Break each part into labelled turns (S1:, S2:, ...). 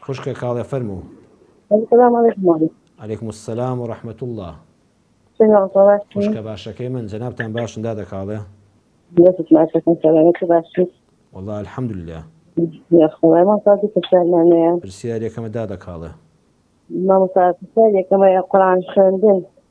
S1: خوشکە کاڵێ فەرموو. سلام
S2: علیکم مولوی. علیکم السلام
S1: ورحمت اللە. چۆنی وەڵتە باشی؟ خوشکە باشەکەی من جەنابتان باشن دادە کاڵێ؟ دەستت باشەکەم سەلامەتی باشی؟ وەڵا الحمدللە. یاخوای مامۆستا دوو پرسیارمان هەیە. پرسیار یەکەمە دادە کاڵێ. مامۆستا پرسیار یەکەمە
S2: قورئان خوێندن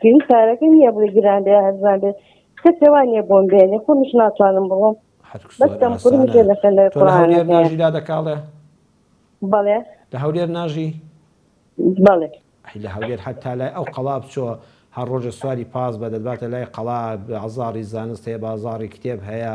S2: پێوی پارەکە نییە بڵێ گران بێ هەرزان بێت کەسێ وا نییە بۆم بێنێ خۆمیش ناتوانم بڕۆم بەس دەمخورم جێ دەخەن لە
S1: قورئانەکەیان دادەکاڵێ بەڵێ
S2: لە هەولێر
S1: ناژی
S2: بەڵێ ئەی لە هەولێر
S1: حتا لای ئەو قەڵا بچۆ هەر ڕۆژە سواری پاس بە دەدباتە لای قەڵا بازاڕی زانست هەیە بازاڕی کتێب هەیە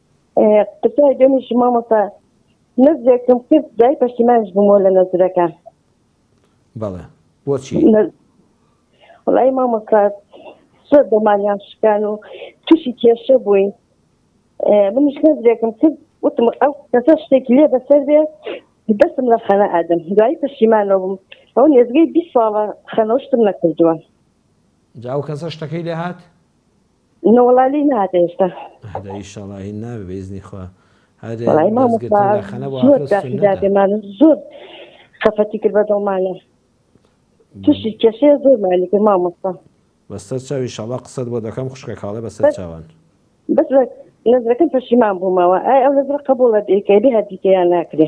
S2: قسای دەمیش مامۆستا نەزرێکم کرد دای پەشیمانش بوومەوە لە نەزرەکە
S1: بەڵێ بۆچی
S2: وڵی مامۆستا زۆر دەمانیان شکان و تووشی کێشە بووین منیش نەزرێکم کرد وتم ئەو کەسە شتێکی لێ بەسەر بێ دەستم لە خەنە ئادەم دوایی پەشیمانەوە بووم ئەو نێزگەی بی ساڵە خەنەوشتم نەکردووە جاو
S1: کەسە شتەکەی لێهات نەوەڵا
S2: لێی نەهاتە هێشتا ئەهدا ئیشەڵا هین
S1: نابێ بە ئیزنی خوا هەر وەڵای
S2: مامۆستا دەستگرتن داخەنە بۆ زۆر ئافرەت داخی سوننەتە دادێمان زۆر خەفەتی کرد بە دڵمانە تووشی کێشەیە زۆرمانی کرد مامۆستا بەسەر چاو
S1: ئیشەڵا قسەت بۆ دەکەم خوشکە کاڵێ بەسەر بەس چاوان بەس لە
S2: نەزرەکەم پەشیمان بوومەوە ئای ئەو نەزرە قبوڵە دەیکەی بێ هەردیکەیان ناکرێ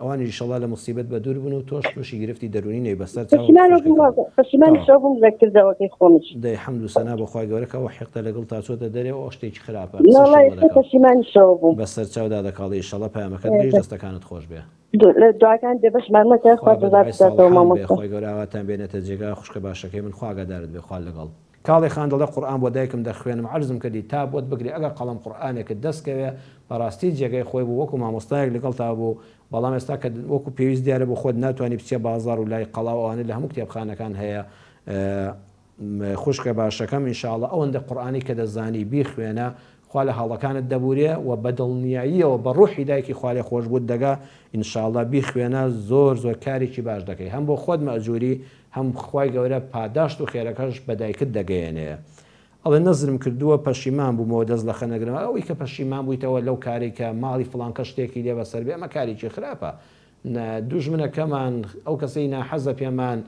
S1: ئەوانیش ئیشەڵا لە موسیبەت بەدوور بن و تۆش تووشی گرفتی دەروونی نەی بەسەر چاوت پەشیمانی شەو بووم لە
S2: کردەوەکەی خۆمش. دەی حەمد و سەنا بۆ
S1: خوای گەورە کە ئەو حیقدە لە گڵتا چۆتە دەرێ و ئەو شتێکی خراپە قسەشی بۆ نەکە و پەشیمانی شەو بووم. بەسەر چاودا دەکاڵێ ئیشەڵا پەیامەکەت گەیشت دەستەکانت خۆش بێ. دعاکانت
S2: بێبەشمان مەکە خوا جەزات بداتەوە مامۆستا. خوای بەدوعای
S1: ساڵحان بێ خوای گەورە ئاواتان بێنێتە جێگا خوشکە باشەکەی من خوا ئاگادارت بێ خوا لەگەڵ. کاڵێ خان دەڵێ قورئان بۆ دایکم دەخوێنم عەرزم کردی تا بۆت بگرێ ئەگەر قەڵەم قورئانێکت دەست کەوێ بەڕاستی جێگای خۆی بوو وەکو مامۆستایەک لەگەڵتا بوو بەڵام ئێستا کە وەکو پێویست دیارە بۆ خۆت ناتوانی بچیە بازاڕ و لای قەڵا و ئەوانە لە هەموو کتێبخانەکان هەیە خوشکە باشەکەم ان شاءاللە ئەوەندە قورئانی کە دەزانی بیخوێنە خوا لە هەڵەکانت دەبورێ و بە دڵنیاییەوە بە ڕوحی دایکی خوالێخۆشبووت دەگا ان شاءاللە بیخوێنە زۆر زۆر کارێکی باش دەکەی هەم بۆ خۆت مەئجوری هەم خوای گەورە پاداشت و خێرەکەش بە دایکت دەگەیەنێ ئەڵێ نەزرم کردووە پەشیمان بوومەوە دەست لە خەنەگرم ئەوەی کە پەشیمان بوویتەوە لەو کارەی کە ماڵی فڵان کەس شتێکی لێ بەسەر بێ ئەمە کارێکی خراپە دوژمنەکەمان ئەو کەسەی ناحەزە پێمان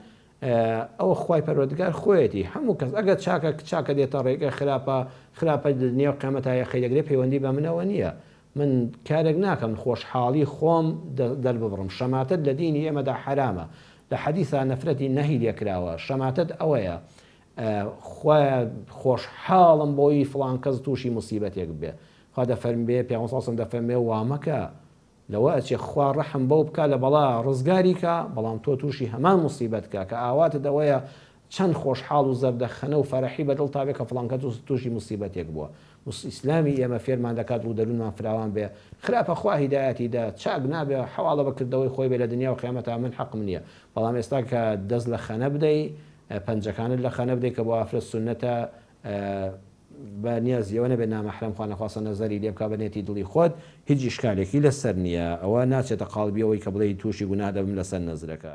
S1: ئەوە خوای پەروەردگار خۆیەتی هەموو کەس ئەگەر چاکە چاکە دێتە ڕێی گەر خراپە خراپە لە نێو قیامەتا یەخەی دەگرێ پەیوەندی بە منەوە نیە من کارێک ناکەم خۆشحاڵی خۆم دەرببڕم شەماتەت لە دینی ئێمەدا حەرامە لە حەدیسا نەفرەتی نەهی لێکراوە شەماتەت ئەوەیە خوایە خۆشحاڵم بۆی فڵان کەس تووشی موسیبەتێک بێ خوا دەفەرمبێ پێ ساسم دەفەرمێ وامەکە لەوە ئەچێ خوا ڕەحم بەو بکا لە بەڵا ڕزگاری کا بەڵام تۆ توشی هەمان موسیبەت کا کە ئاواتت ئەوەیە چەند خۆشحاڵ و زەردەخەنە و فەرحی بە دڵتا بێ کە فڵان کەس توشی موسیبەتێک بوە ئیسلامی ئێمە فێرمان دەکات ڕوو دەرونمان فراوان بێ خراپە خوا هیدایەتی دا چاک نابێ حەواڵە بە کردەوەی خۆی بێ لە دنیا و قیامەتا من حەقم نیە بەڵام ئێستا کە دەست لە خەنە بدەی پەنجەکانت لە خەنە بدەی کە بۆ ئافرەت سونەتە بە نیازی ئەوە نەبێت نامەحرەم خوانەخواستە نەزەری لێ بکا بە نیەتی دڵی خۆت هیچ ئیشکالێکی لەسەر نیە ئەوە ناچێتە قاڵبی ئەوەی کە بڵێی توشی گوناه دەبم لەسەر نەزرەکە.